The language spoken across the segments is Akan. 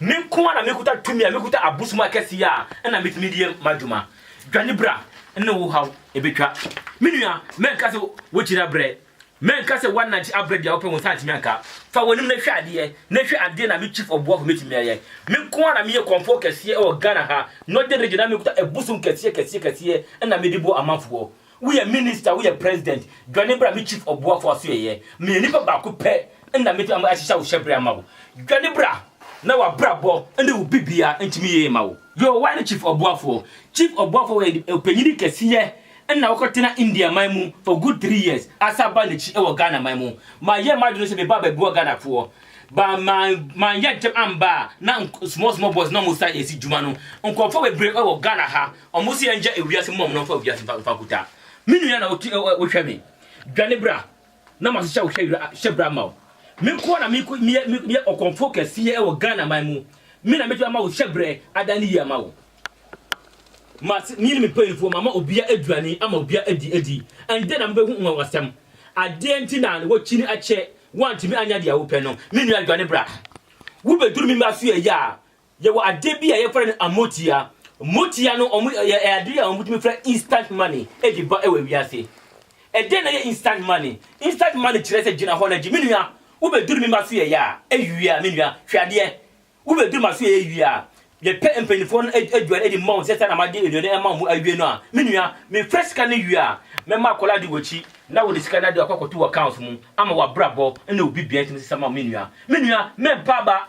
Me nko ara na mekuta tumi a mekuta abosom akɛse a ɛna metumi de yɛ m'adwuma. Dwane bra ne wo haw ebetwa. Me nua, mɛnka sɛ wokyiri abrɛ. Mɛnka sɛ woanante abrɛ bia wopɛ wo nsa antumi anka. Fa w'anim na hwɛ adeɛ na hwɛ adeɛ na me chief ɔboafo mɛtumi ayɛ. Me nko ara na meyɛ kɔmfoɔ kɛseɛ wɔ Ghana ha, Northern Region na mekuta abosom kɛseɛ kɛseɛ kɛseɛ ɛna mede bɔ amanfoɔ. Woyɛ minister woyɛ president dwane bra me chief ɔboafo asoɛeɛ meyɛ nipa baako pɛ na mɛtumi ahyehyɛ ahohyɛbrɛ ama wo dwane bra na wabrabɔ ne wo bibia ntumi yie ma wo. Yoo why ne chief ɔboafoɔ? Chief ɔboafoɔ yɛ ɔpanyini kɛseɛ ɛna ɔkɔ tena India man mu for good three years asan baa nakyi ɛwɔ Ghana man mu mayɛ madwene sɛ mebaa bɛboa Ghana foɔ but man manyɛ ntɛm ambaa na small small boys na ɔmo san ɛsi dwuma no nkorɔfoɔ bebree ɛwɔ Ghana ha Ɔmo se yɛngya ewiase mma ɔmo na ɔmfa wiase mfa mfa nkuta me nua na ɔtu ɛ ɛ wohwɛ me dwane bra na mahyehyɛ wo hyɛ wira hyɛ bra ama wo me nkoa na me ko meyɛ meyɛ ɔkɔmfoɔ kɛseɛ ɛwɔ Ghana man mu me na mɛtumi ama wo hyɛ brɛ adan ne yie ama wo mase me ne me mpanyinfoɔ mama obia aduane ama obia adi adi ɛndɛ na mobɛhu nwanwasɛm adeɛ nti na wɔkyini akyɛ woantumi anya deɛ wopɛ no me nua dwane bra wobɛduru me mma so yɛ yɛ a Yɛwɔ adeɛ bi a yɛfrɛ no amotia. Motia no wɔn yɛ ɛyɛ adeɛ a wɔtumi frɛ instant money ɛde ba ɛwɔ wiase. Ɛdɛn na ɛyɛ instant money? Instant money kyerɛ sɛ gyina hɔ na gye. Me nua, wobɛduru me mma so yɛyɛ a, ɛwie a, me nua, hwɛ adeɛ. Wobɛduru ma so yɛyɛ wie a, yɛpɛ mpanimfoɔ no aduane ɛde ma wɔn sɛ saa na made aduane ama wɔn awie no a, me nua, mefrɛ sika no wie a, mɛma akwadaa di w'akyi na wode sika no ade akɔ akɔto w'accounts mu ama w'abrabɔ ne wo biribiara ntumi nsesa ma wo, me nua. Me nua, mɛmpa aba.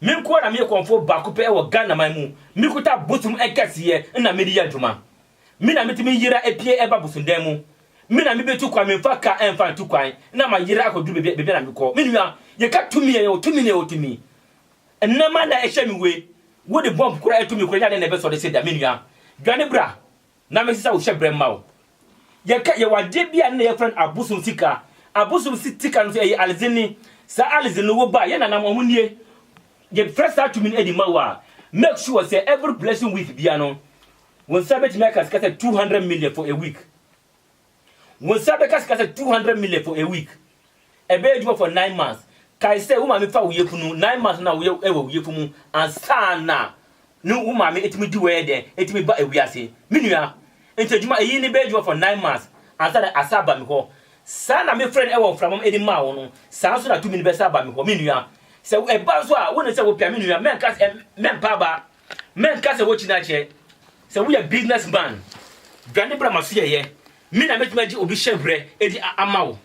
Me nko ara na meyɛ kɔmfoɔ baako pɛ wɔ Ghanaman mu, mekuta bosom kɛseɛ na mede yɛ adwuma. Me na metumi yera pue ba bosondan mu. Me na mebetu kwan, memfa kaa mfa ntu kwan na mayera akɔduru baabiara a mekɔ. Me nua, yɛka tumi a, yɛwɔ tumi na yɛwɔ tumi. Nneɛma na ɛhyɛ me wei, wode bɔmb kora tumi kora nyɛ adeɛ na ɛbɛsɔre sɛ da, me nua. Dwane bra. Na mese sɛ wo hyɛbrɛ mma wo. Yɛka, yɛwɔ adeɛ bi a nna yɛfrɛ no abosom sika. Abosom si tika no nso ɛyɛ alize ni. Saa alize no wo ba, yɛn nana no wɔn nie. Yɛ frɛ saa tumi no de ma wo a, make sure sɛ every blessing week biara no, wo nsa bɛtumi aka sika sɛ two hundred million for a week. Wo nsa bɛka sika sɛ two hundred million for a week. Ɛbɛyɛ adwuma for nine months. Kae sɛ wo maame fa wo yafunu, nine months na woyɛ ɛwɔ wo yafunu mu ansa na ne wo maame etumi di w'ɛyɛ dɛn etumi ba ewiase. Me nua, nti adwuma eyi ne bɛyɛ adwuma for nine months ansa na asa aba me hɔ. Saa na me frɛ no ɛwɔ mframa mu de maa wo no, saa nso na tumi no bɛsa aba me hɔ. Me nua, sɛ ɛba nso a, wo ne sɛ wo pɛ a, me nua, mɛnka sɛ mɛmpa aba. Mɛnka sɛ wokyi no akyɛ. Sɛ woyɛ business man, dwane bra m'asoɛeɛ. Me na mɛtumi agye obi hyɛbrɛ adi ama wo.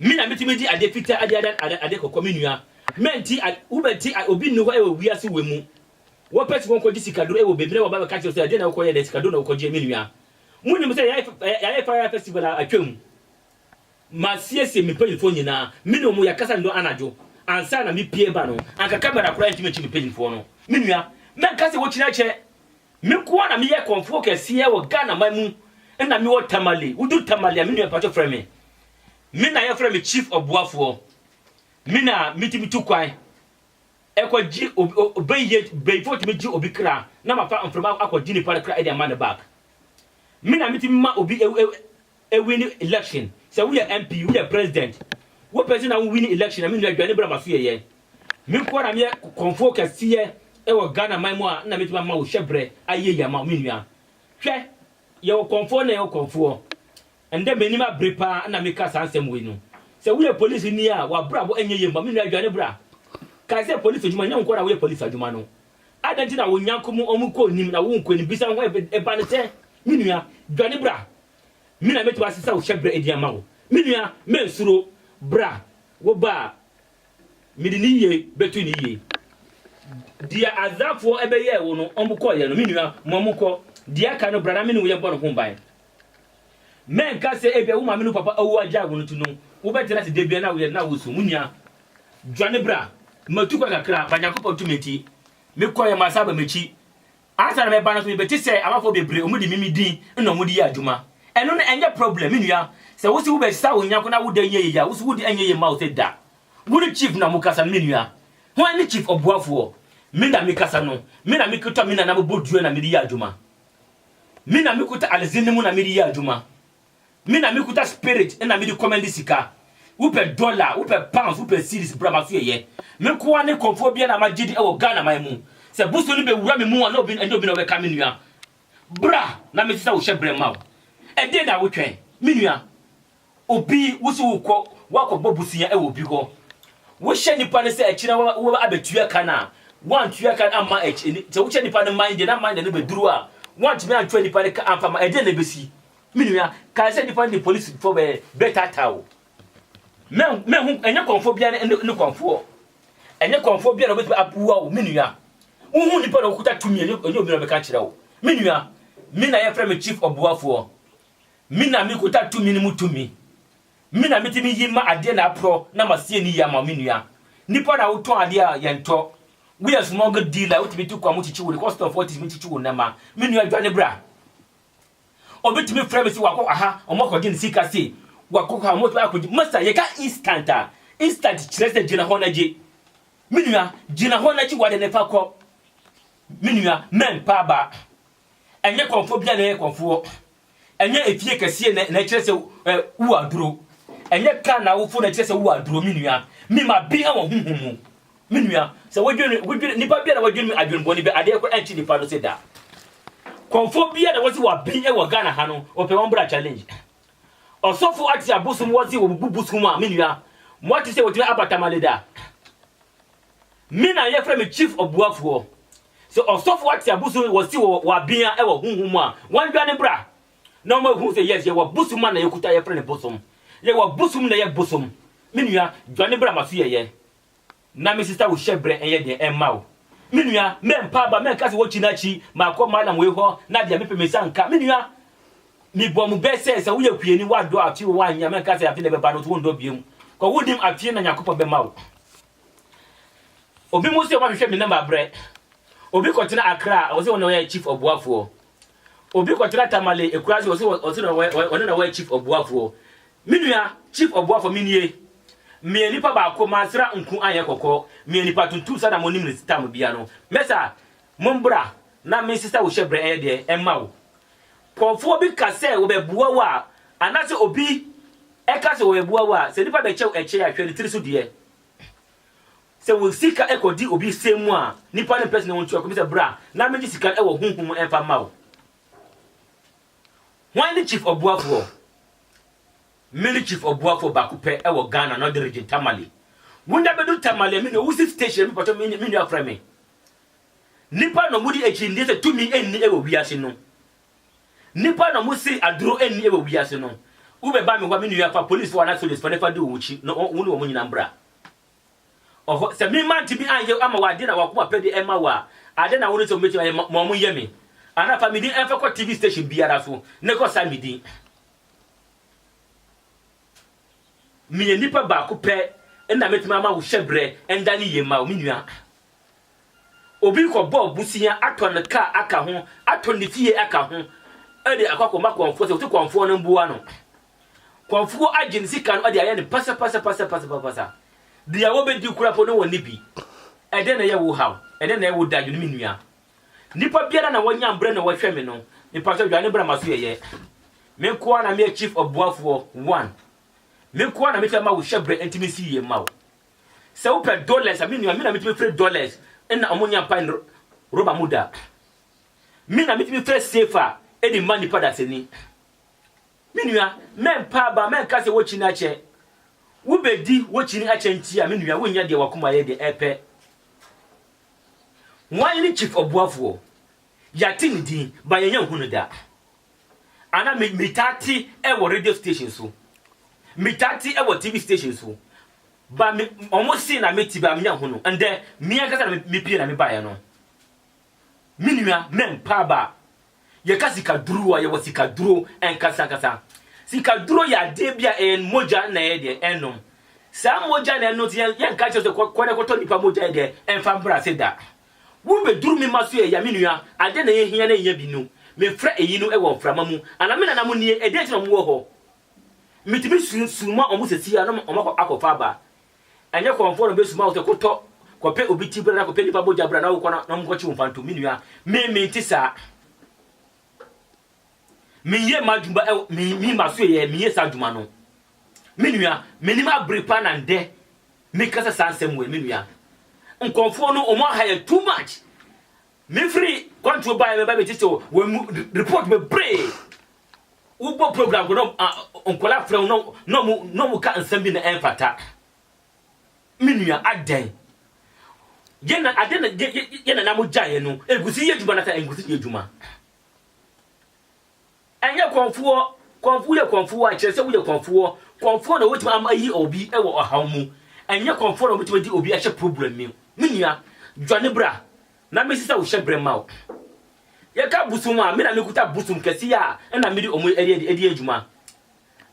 Me na mɛtumi de adeɛ fitaa adi adan adeɛ kɔkɔɔ, me nua. Mɛnti, wobɛnti, obi nni hɔ wɔ wiase wei mu. Wɔpɛ sɛ wɔkɔgye sikaduro wɔ baabi na wɔba bɛka kyerɛ wo sɛ ɛdeɛn na wokɔyɛ ɛnnɛ, sikaduro na wokɔgyeɛ, me nua. Monim sɛ yɛayɛ fire festival a atwam. Masiesie me mpanyimfoɔ nyinaa, me ne wɔn yɛkasa nnɔn anadwo ansa na me pue ba no, anka kamera koraa ntumi nkye me mpanyimfoɔ no. Me nua, mɛnka sɛ wokyinɛ kyɛ, me nko ara na meyɛ kɔmfoɔ kɛseɛ wɔ Ghana man mu, nna me wɔ Tamale, wo duru Tamale a me nua mpakyɛ frɛ me, me na yɛfrɛ me Chief Ɔboafoɔ, me na me tumi tu kwan kɔ gye obi, ɔbɛyie, bɛyifoɔ tumi gye obi kra na mafa mframa akɔ gye nipa no kra de ama no back, me na me tumi ma obi Ewin election sɛ woyɛ MP woyɛ president wopɛ sɛ na wo win election a me nua dwane bra ma so yɛyɛ me nko ara na meyɛ kɔnfoɔ kɛseɛ ɛwɔ Ghana man mu a na mɛtumi ama wo hyɛ brɛ ayɛ yie ama wo me nua hwɛ yɛwɔ kɔnfoɔ na yɛwɔ kɔnfoɔ ɛndɛ m'anim abere paa na meka saa nsɛm wei no sɛ woyɛ police ni a wabrabɔ ɛnyɛ yie mma me nua dwane bra kae sɛ police adwuma nyɛ wo nko ara na woyɛ police adwuma no Adɛn nti na wo nyako mu ɔmo kɔ onim na wo nkɔ onim? Bisa ho ɛba no sɛ, Me nua, dwane bra, me na mɛtu ase sɛ wo hyɛbrɛ edin ama wo. Me nua, mensuro, bra, wo ba a, mede ne yie bɛtu ne yie. Deɛ Asdodfoɔ bɛyɛɛ wo no, ɔmo kɔeɛ no, me nua, ma ɔmo nkɔ. Deɛ aka no, bra na me ne wo yɛbɔ no ho ban. Mɛnka sɛ ebia wo maame ne wo papa awu agyae wo no nti no wobɛtena ase da biara na woyɛ dɛn na woresu. Wo nua, dwane bra. Matu kwan kakra, ma Nyankopɔn tumi nti, mekɔeɛ, masan aba m'akyi. Ansa na mɛba no nso, mebɛte sɛ amanfoɔ bebree, wɔde me me din na wɔde yɛ adwuma. Ɛno no, ɛnyɛ problem, me nua. Sɛ wose wobɛsesa wo nyako na wode nyɛ yei a, wose wode ɛnyɛ yie mma wo sɛ da. Wo ne Chief na mokasa no, me nua. Hwan ne Chief Ɔboafoɔ? Me na mekasa no. Me na mekita me nana mabɔ dua na mede yɛ adwuma. Me na mekuta Alezin no mu na mede yɛ adwuma. Me na mekuta Spirit na mede kɔmande sika. Wopɛ dɔla, wopɛ pounds, wopɛ cedis, bra maso yɛyɛ. Me nkoa ne kɔmfoɔ biara na magye di wɔ Ghana man mu. Sɛ bosom no bɛwura me mu a, na ɛnyɛ obi na ɔbɛka me nua. Bra na mesesa wo hyɛbrɛ mma wo. Ɛdeɛn na wotwɛn? Me nua, Obi, wo so wokɔ, woakɔbɔ bosea wɔ obi hɔ, wohyɛ nipa no sɛ akyire no wobɛba abɛtua ka no a, woantua ka no amma akyi, sɛ wohyɛ nipa no Monday na Monday no bɛduru a, woantumi antua nipa no ka amfa ma, ɛdeɛn na ɛbɛsi? Me nua, kae sɛ nipa no de polisifo bɛ, bɛtaataa wo. Mɛ, mɛhu, ɛnyɛ kɔmfoɔ biara ne, ne, ne kɔmfoɔ. Ɛnyɛ kɔmfoɔ biara na ɔbɛtumi aboa wo, me nua. Wohu nipa na ɔkuta tumi, ɛnyɛ, ɛnyɛ obi na ɔbɛka akyerɛ wo. Me nua, me na yɛfrɛ me chief ɔboafoɔ. Me na mikuta tumi no mu tumi. Me na mitumi yi ma adeɛ na aporɔ na masie no yie ama wo me nua. Nnipa na wotɔn adeɛ a yɛntɔ. Woyɛ smuggle dealer a wotumi tu kwan mu kyikyi wo de, kɔstɔmfoɔ tumi kyikyi wo nneɛma. Me nua dwane bra. Obi tumi frɛ me sɛ wakɔ aha, wɔakɔgye ne sika sei, wakɔ ha, wɔatumi akɔgye. Masa, yɛka instant a, instant kyerɛ sɛ gyina hɔ na gye. Me nua, gyina hɔ na gye w'ade no fa kɔ. Me nua, mɛmpa aba. Ɛnyɛ kɔmfo bia na ɛyɛ kɔmfoɔ. Ɛnyɛ efie kɛseɛ na ɛkyerɛ sɛ wo aduro. Ɛnyɛ car na wofo na ɛkyerɛ sɛ wo aduro me nua. Me ma bi wɔ honhom mu. Me nua, sɛ wodwene, wodwene, nipa bia na wadwene adwene bɔne bi, adeɛ koro ɛnkye nipa no se da. Kɔmfo bia na wɔsi wɔ bi wɔ Ghana ha no, ɔpɛ wɔn bra challenge. Ɔsɔfo ate abosom wɔsi wɔ bu bosom a, me nua, mo ate sɛ wɔtumi aba tamale da. Me na yɛfrɛ me chief ɔboafoɔ. Sɛ ɔsɔfo a te abusu no wɔsi wɔ wɔ abea ɛwɔ honhom mu a, wɔn dwane bra na wɔn ahu sɛ yes yɛwɔ bosom a na yɛkuta yɛfrɛ no bosom. Yɛwɔ bosom na ɛyɛ bosom. Me nua, dwane bra ma so yɛ yɛ. Na me sista wo hyɛ brɛ ɛnyɛ deɛ ɛmma wo. Me nua, mɛ mpa aba, mɛ nka sɛ wɔkyi na kyi, makɔ Mallam wei hɔ na deɛ mepɛ me nsa nka. Me nua, me bɔ mo bɛ sɛ, sɛ woyɛ kuani, woadɔ afe o, woannya, mɛ nka sɛ afe na ɛbɛba no nso wondɔ biom. Kɔ wonim afe na Nyankopɔn bɛma wo. Obi mu se wɔahwehwɛ me namba brɛ. Obi kɔtena Accra a ɔse ɔno na ɔyɛ chief ɔboafoɔ. Obi kɔtena Tamale Ekurase ɔse ɔse na ɔyɛ ɔno na ɔyɛ chief ɔboafoɔ. Me nua, chief ɔboafoɔ me nie. Meyɛ nipa baako mansra nku anyɛ kɔkɔɔ. Meyɛ nipa tuntum saa na monim no tam biara no. Mɛsa, mombra na mensesa wo hyɛbrɛ ɛyɛ deɛ mma wo. Nkurɔfoɔ bi ka sɛ wɔbɛboa wo a, anaasɛ obi ka sɛ wɔbɛboa wo a, sɛ nipa bɛkyɛ wo ɛkyɛ a, hwɛ ne tiri so deɛ. Sɛ wo sika kɔdi obi sɛm mu a, nipa no mpɛ sɛ ne wo ntua kɔm sɛ bra na megye sika no wɔ honhom mu mfa mma wo. Hwan ne Chief Ɔboafoɔ? Me ne Chief Ɔboafoɔ baako pɛ wɔ Ghana Northern Region, Tamale. Wo nna bɛdu Tamale a, me nua, wo si station a, me pɛtɔ me nua frɛ me. Nnipa na wɔde akyinnye sɛ tumi nni wɔ wiase no. Nnipa na wɔse aduro nni wɔ wiase no. Wobɛba me hɔ a, me nua, fa polisfoɔ anaa sogyasfoɔ na fa di wɔn akyi na wo ne wɔn nyinaa mbra hɔ. Sɛ me mantumi anyɛ ama wo adeɛ na w'akoma pɛ deɛ ɛmma wo a, adeɛ na wo ne sɛ wɔbɛtumi ayɛ ma wɔn nyɛ me. Anaa fa me din mfa kɔ TV station biara so na kɔ sa me din. Meyɛ nipa baako pɛ na mɛtumi ama wo hyɛbrɛ ndane yie ma wo, me nua. Obi kɔbɔ abusua atɔ ne car aka ho, atɔ ne fie aka ho de akɔ akɔma kɔmfoɔ sɛ wɔte kɔmfoɔ no mmoa no. Kɔmfoɔ agye ne sika no de ayɛ no pasapasapasapasapasa. Deɛ wɔbɛdi koraa mpo no wɔnni bi. Ɛdɛn na ɛyɛ wo haw? Ɛdɛn na ɛyɛ wo dadwene me nua? Nipa biara na wɔnya mbrɛ na wɔhwɛ me no, mepakyɛw dwane bra m'aso yɛyɛ. Me nko ara na meyɛ chief ɔboafoɔ, one. Me nko ara na mefɛ ma wo hyɛ brɛ nti mensi yie mma wo. Sɛ wopɛ dollars a, me nua, me na metumi fere dollars na ɔmo nya pae no rɔba mu da. Me na metumi fere sefa de ma nipa dasani. Me nua, mɛmpa aba, mɛnka sɛ wokyini akyɛ. Wobedi wokyini akyɛ nti a, me nua, wonyɛ deɛ wakoma yɛ deɛ ɛpɛ. Wan ne chief ɔboafoɔ? Yɛate ne din, but yɛnyɛ nhu no da. Anaa me metaa te ɛwɔ radio station so. Metaa te ɛwɔ TV station so. Ba me ɔmo se na mete ba menya ho no. Ndɛ me ankasa na me pie na me baeɛ no. Me nua mɛmpa ba. Yɛka sika duro a yɛwɔ sika duro ankasa ankasa. Sika duro yɛ adeɛ bi a ɛyɛ mogya na ɛyɛ deɛ ɛnom. Saa mogya na ɛno nti yɛnka kyerɛ sɛ kɔ na kɔtɔ nipa mogya deɛ ɛmfa mbra ase da. Wo bɛduru me mma so ɛya me nua adɛn na yɛ hia na ɛnya bi no me frɛ ɛyi no ɛwɔ mframa mu ana me nana mo nie ɛdɛn nti na ɔmo wɔ hɔ me tumi su suma ɔmo sɛ si a na ɔmo akɔ akɔ fa aba ɛnyɛ kɔnfoɔ na ɔbɛ suma wo sɛ kɔ tɔ kɔ pɛ obi ti bra na kɔ pɛ nipa bogya bra na wo kɔ na ɔmo kɔ kye wo mfantom me nua me me nte saa. Menyɛ m'adwuma ɛwɔ me me maso yɛ menyɛ saa adwuma no. Me nua, menim abere paa na ndɛ mekasa saa nsɛm wei me nua. Nkɔmfoɔ no ɔmo aha yɛ too much. Mefiri kwantuo baeɛ mɛba bɛgye sɛ wɔ mu report bebree. Wobɔ program kɔ na nkɔla frɛ wo na ɔmo na ɔmo ka nsɛm bi na ɛmfata. Me nua adɛn? Yɛn na adɛn na yɛn nana mo gyaeɛ no nkusi yɛ adwuma na sɛ nkusi yɛ adwuma. Ɛnyɛ kɔmfoɔ. Kɔmfoɔ yɛ kɔmfoɔ a ɛkyerɛ sɛ woyɛ kɔmfoɔ. Kɔmfoɔ na ɔbɛtumi ama ayi obi wɔ ɔhaw mu. Ɛnyɛ kɔmfoɔ na ɔbɛtumi de obi ahyɛ problem mu. Me nua, dwane bra na mensesa wo hyɛbrɛ mma wo. Yɛka bosom a, me na mekuta bosom kɛseɛ a ɛna mede wɔn ɛde yɛ adwuma.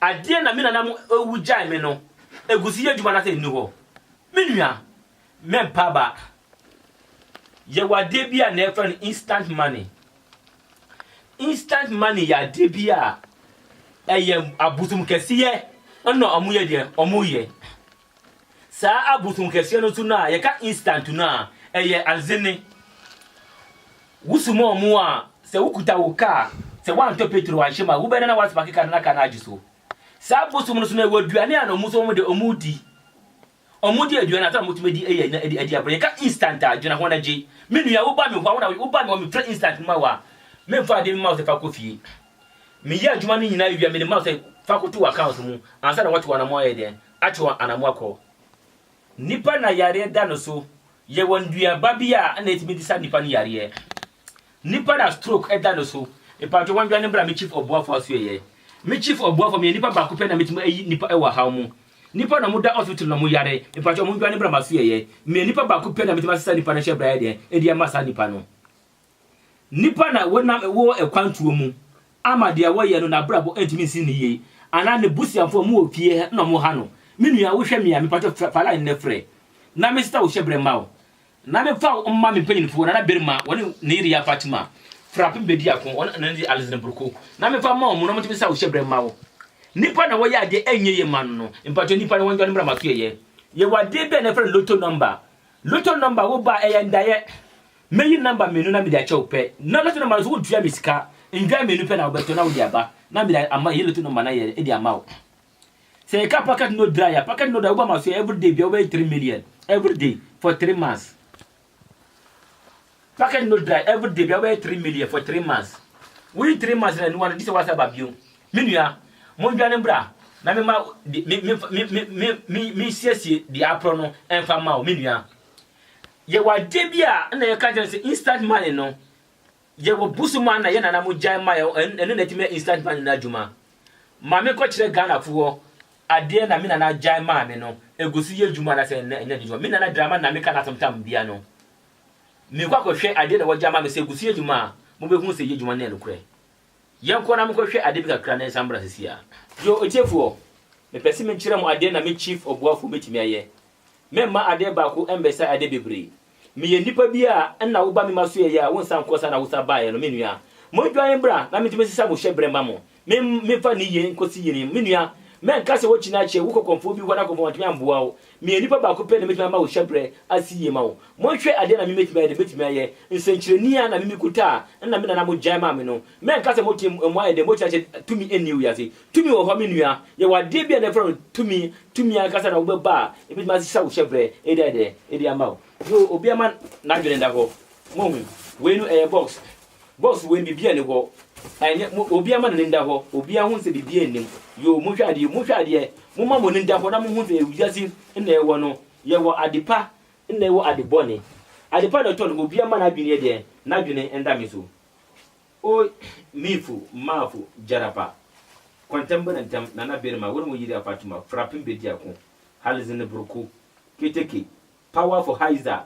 Adeɛ na me nananom ɛwu gyae me no, ɛguso yɛ adwuma na sɛ ɛnni hɔ. Me nua, Me ba ba, yɛwɔ adeɛ bi a na yɛfrɛ no instant money. Instant money yɛ adeɛ bi a ɛyɛ abosom kɛseɛ na wɔyɛ deɛ wɔyɛ. Saa abosom kɛseɛ no nso no a yɛka instant no a, ɛyɛ anzene. Wosoma wɔn a, sɛ wokuta wo kaa, sɛ woantɔ petro anhyɛ mu a, wobɛda na woasparke kaa no na kaa no agye so. Saa abosom no nso no, ɛwɔ aduane a na wɔn nso wɔde wɔn redi. Wɔde aduan a wotumi adi yɛ nna de adi agorɔ. Yɛka instant a, dwene ho na gye. Me nua, woba me hɔ a, wo na woyɛ. Woba me hɔ, mefrɛ instant ma wo a, memfa adeɛ mma wo sɛ fa kɔ fie. Meyɛ adwuma no nyinaa wie a, mede ma wo sɛ fa kɔto w'account mu ansa na wɔato w'anammɔn ayɛ dɛn? Ato w'anammɔn akɔ. Nipa na yareɛ da no so Yɛwɔ nnuaba bi a na etumi de sa nnipa no yareɛ. Nnipa na stroke da no so. Mpakyɛw wɔndwane mbra me chief ɔboafo asoɛyɛ. Me chief ɔboafo meyɛ nipa baako pɛ na metumi ayi nnipa ɛwɔ ahaw mu. Nnipa na ɔmo da hospital na ɔmo yare mpakyɛw ɔmo ndwane mbra masoɛyɛ. Meyɛ nipa baako pɛ na metumi asesa nnipa no hyɛ bra yɛ deɛn ɛde ama saa nnipa no. Nnipa na wɔnam wɔ akwantuo mu ama deɛ wɔyɛ no n'abrabɔ ntumi nsi no yie anaa ne busuafoɔ mo wɔ fie na wɔn ha no me nua wo hwɛ me a mepatwɔ frɛ fa line no frɛ na me srɛ wo hyɛ brɛ mma wo na me fa wo mma me mpanyinfoɔ nana barima wɔne ne yere ya Fatima frapem bɛdi ako wɔne ne de Alison Broko na me fa mma wɔn na wɔn ntumi nsa wo hyɛ brɛ mma wo nnipa na wɔyɛ adeɛ ɛnyɛ yie ma no no mpatwɔ nnipa no wɔn dwane mmra maso yɛyɛ yɛwɔ adeɛ bi a na ɛfrɛ no lotto number lotto number wo ba ɛyɛ ndaeɛ Mɛyi number mmienu na mede akyɛ wo pɛ na lotto number no so wontua me sika nnwan mmienu pɛ na wobɛtɔ na wode aba na mede ama ɛyɛ lotto number no ayɛ de ama wo sɛ yɛka packet no dry a packet no dry woba ma so everyday bia wobɛyɛ three million everyday for three months packet no dry everyday bia wobɛyɛ three million for three months woyi three months na nuwa no gye sɛ woasa ba bio me nua mondwane mbra na mema mesiesie deɛ aporɔ no ɛmfa ma wo me nua Yɛwɔ adeɛ bi a na yɛka kyerɛ no sɛ instant money no, yɛwɔ bosom a na yɛn nana mo gyae ma yɛ, ɛno na ɛtumi yɛ instant money no adwuma. Ma me nkɔkyerɛ Ghanafoɔ adeɛ na me nana gyae maa me no, ɛgu so yɛ adwuma anaasɛ ɛnyɛ adwuma. Me nana Dramani na meka no asɛm tam biara no, merekɔ akɔhwɛ adeɛ na wɔgyae ma me sɛ ɛgu so yɛ adwuma a, mobɛhunu sɛ ɛyɛ adwuma no yɛ nokorɛ. Yɛnkɔ na menkɔhwɛ ade bi kakra na yɛnsan mmra sesiaa. Yo, otiefoɔ, mepɛ se mekyerɛ mo adeɛ na me Chief Ɔboafoɔ bɛtumi ayɛ. Meremma adeɛ baako mmɛsɛe adeɛ bebree. Meyɛ nnipa bi a nna woba me mma so yɛyɛ a wonsan nkɔ saa na wosan baeɛ no, me nua. Monnwane mmra na mentumi nsesa mo hyɛberɛ mma mo. Me, memfa nneyie nkɔsi yeinom. Me nua, mɛnka sɛ woakyini akyɛ, wokɔ kɔmfoɔ bi hɔ na kɔmfoɔ no antumi amboa wo. Meyɛ nipa baako pɛ na mɛtumi ama wo hyɛbrɛ asi yie ma wo. Monhwɛ adeɛ na me mɛtumi ayɛ deɛ mɛtumi ayɛ. Nsɛnkyerɛnii a na me me kutaa no na me nana mo gyae maa me no. Mɛnka sɛ mote mu ayɛ dɛ mokyerɛ akyɛ tumi nni wiase. Tumi wɔ hɔ me nua. Yɛwɔ adeɛ bi a na yɛfrɛ no tumi. Tumi ankasa na wobɛba a ɛbɛtumi ahyɛ wo hyɛbrɛ de ayɛ dɛ de ama wo. Yoo obiara ma n'adwene nda hɔ. Moahu? Wei no ɛyɛ box. Boss wei biribiaa nni hɔ ɛnyɛ mo obiaa ma n'ani nda hɔ obiaa hu sɛ biribiaa nnim yoo monhwɛ adeɛ monhwɛ adeɛ momma mo ani nda hɔ na monhu sɛ wiase nna yɛwɔ no yɛwɔ ade pa nna yɛwɔ ade bɔne ade pa na ɛtɔ no obiaa mma n'adwene yɛ deɛn n'adwene nda me so oh miifu maafu gyarapa kwantam bɛna ntam nana berima wone wo yere afatuma frapem bɛdi ako halizine broko keteke power for haiza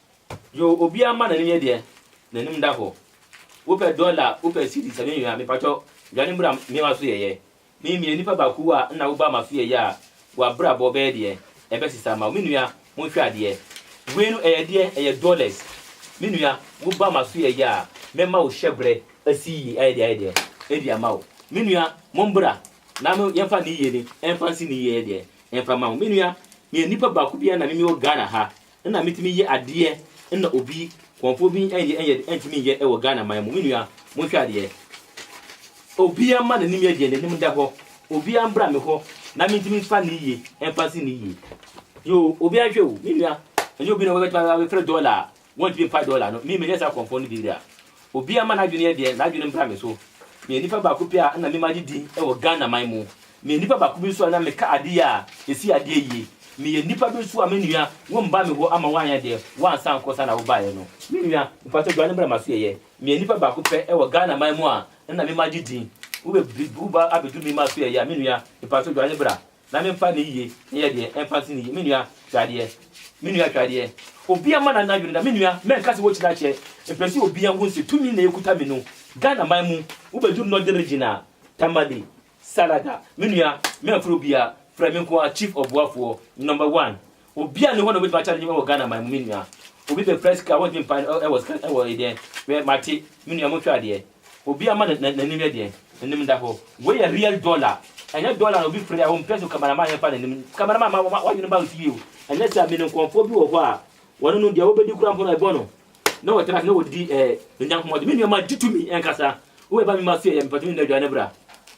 Yo obiaa ma nanim yɛ deɛ nanim da hɔ wopɛ dollar wopɛ cedi sɛ menwia mepakyɛw dwane mbra me waso yɛyɛ me meyɛ nipa baako wa nna woba maso yɛyɛ a wa bra bɔ bɛyɛ deɛ ɛbɛ sesa ama wo menua monhwɛ adeɛ wei no ɛyɛ deɛ ɛyɛ dollars menua woba maso yɛyɛ a mɛma wo hyɛ brɛ asi yie ayɛ deɛ ayɛ deɛ ɛdi ama wo menua mombra na mo yɛmfa ne yie ne ɛmfa nsi ne yie yɛ deɛ ɛmfa ma wo menua meyɛ nipa baako bia na me mewɔ Ghana ha na metumi yɛ adeɛ na obi kɔnfoɔ bi ɛnyɛ ɛnyɛ ɛntumi nyɛ ɛwɔ Ghana man mu me nua monhwɛ adeɛ obia mma n'anim yɛ deɛ n'anim da hɔ obia mbra me hɔ na mentumi mfa ne yie ɛmfa nsi ne yie yoo obia nhwɛ o me nua ɛnyɛ obi na wɔbɛtumi abɛfrɛ dɔla a wɔntumi mpa dɔla no me menyɛ saa kɔnfoɔ no bi da Obiara mma n'adwene yɛ deɛ n'adwene mbra me so. Meyɛ nipa baako pɛ a nna me magye din wɔ Ghana man mu. Meyɛ nipa baako bi nso a na meka ade yɛ a ɛsi adeɛ yie. Meyɛ nipa bi nso a me nua wo mba me hɔ ama woanyɛ deɛ woansa ankɔ saa na wobaeɛ no. Me nua, mpakyɛw dwane bra m'asoɛeɛ. Meyɛ nipa baako pɛ wɔ Ghana man mu a nna me magye din. Wo bɛ bi wo ba abɛduru me m'asoɛeɛ a me nua, mpakyɛw dwane bra. na memfa ne yiye nyɛ deɛ ɛmfa nsi ne yiye. Me nua, hwɛ adeɛ. Me nua, hwɛ adeɛ. Obiara mma n'anan dwene da. Me nua, mɛnka sɛ wokyerɛ akyɛ. Mpɛ sɛ obiara hu sɛ tumi na ɛkuta me no. Ghanaman mu, wobɛduru Northern Region a, Tamale, Salaga. Me nua, mɛmfrɛ obiara, frɛ me nko ara, Chief Ɔboafoɔ, Number One. Obia ni hɔ na obetumi akyɛ no dwuma wɔ Ghana man mu me nua. Obi bɛpira sika a wɔntumi mpae no wɔ sika wɔ deɛ hwɛ mate me nua monhwɛ adeɛ. Obia mma n'anim yɛ deɛn? N'anim nda hɔ. Wei yɛ real dollar. Ɛnyɛ dollar na obi firi a ɔmpɛ so cameraman yɛmfa n'anim. Cameraman ma w'adwene ba wo fie o. Ɛnyɛ saa menim nkurɔfoɔ bi wɔ hɔ a wɔne no deɛ wobɛdi koraa mpo no ɛbɔ no na wɔtra ase na wɔdidi eh, nnya nkɔmmɔde. Me nua ma gye tumi ɛnkasa. Wobɛba me ma so yɛ yɛ mepatumi nna aduane bra.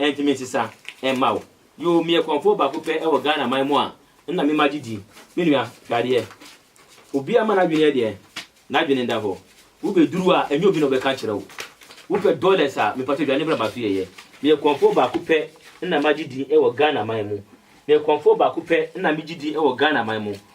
Ɛnti me nsesa mma wo. Yoo meyɛ kɔmfoɔ baako pɛ wɔ Ghana man mu a nna me mma gye di. Me nua, hwɛ adeɛ. Obiara mma n'adwene yɛ deɛn? N'adwene nda hɔ. Wo bɛ duru a, ɛnyɛ obi na ɔbɛka akyerɛ wo. Wo pɛ dollars a, mepatɔ dwane bra ma so yɛyɛ. Meyɛ kɔmfoɔ baako pɛ nna magye din wɔ Ghana man mu. Meyɛ kɔmfoɔ baako pɛ nna me gye din wɔ Ghana man mu.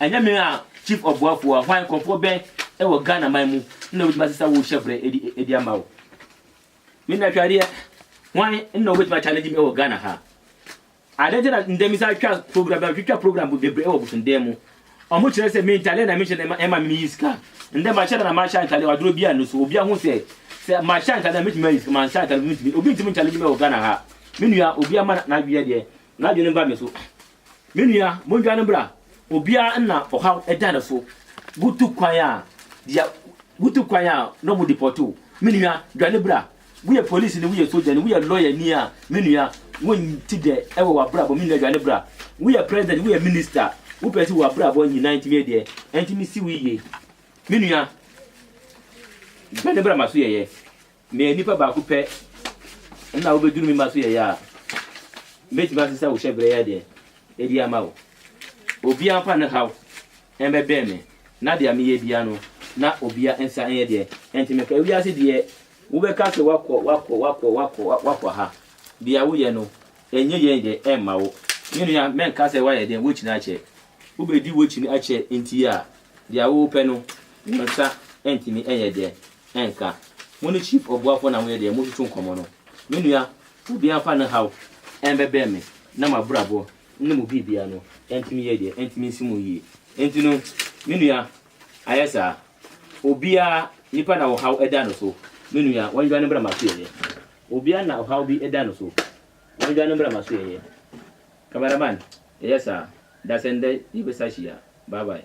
Ɛnyɛ me a Chief Ɔboafo a hwan nkorɔfoɔ bɛn wɔ Ghana man mu na wɔbɛtumi ase sɛ wo hyɛbrɛ adi ama wo? Me nua Twadeɛ, hwan na wɔbɛtumi a challenge me wɔ Ghana ha? Adeɛ nti na ndɛ me sa twa program bia twitwa program bebree wɔ Bosonden mu ɔmo kyerɛ sɛ me ntaleɛ na me hyɛ na ɛma me yi sika ndɛ ma hyɛ da na ma hyɛ ntaleɛ waduro bi a no so obi ahu sɛ sɛ ma hyɛ ntaleɛ na me tumi ayi sika ma hyɛ ntaleɛ obi ntumi challenge me wɔ Ghana ha me nua obi ama na adweɛ deɛ N'adwene ba me so. Me nua, mondwane bra. Obiara nna ɔhaw da ne so. Wotu kwan a, deɛ wotu kwan a na wɔde pɔte wo. Me nua, dwane bra. Woyɛ polisini, woyɛ sogyani, woyɛ lɔyani a, me nua, wonte dɛ wɔ w'abrabɔ. Me nua, dwane bra. Woyɛ president, woyɛ minister a, wopɛ sɛ w'abrabɔ nyinaa ntumi yɛ deɛ ɛntumi si wo yie. Me nua, dwane bra ma so yɛyɛ. Meyɛ nipa baako pɛ na wobeduru me mma so yɛyɛ a, metumi asesa wo hyɛbrɛ yi adeɛ adi ama wo. Obiara mfa ne haw mmɛbɛn me, na deɛ meyɛ biara no, na obiara nsa nyɛ deɛ ɛnte me pɛ. Wiase deɛ, wobɛka sɛ woakɔ, woakɔ, woakɔ, woakɔ, woakɔ ha. Deɛ woyɛ no, ɛnyɛ yie deɛ, ɛmma wo. Me nua, mɛnka sɛ woayɛ dɛn, woakyini akyɛ. Wobedi woakyini akyɛ nti a, deɛ wopɛ no, wo nsa ntumi nyɛ deɛ ɛnka. Mo ne Chief Obuafoɔ na moyɛ deɛ motutu nkɔmmɔ no. Me nua, obiara mfa ne haw ɛmbɛbrɛ me na m'abrabɔ ne mo biribiara no ɛntumi yɛ deɛ ɛntumi nsi mo yie. Enti no, me nua, ayɛ saa. Obiara, nipa na ɔhaw ɛda no so, me nua, wɔndwane mbra m'asoɛeɛ. Obiara na ɔhaw bi ɛda no so, wɔndwane mbra m'asoɛeɛ. Cameraman, yɛyɛ saa. Dasɛn dɛ yɛbɛsa hyia. Bye bye.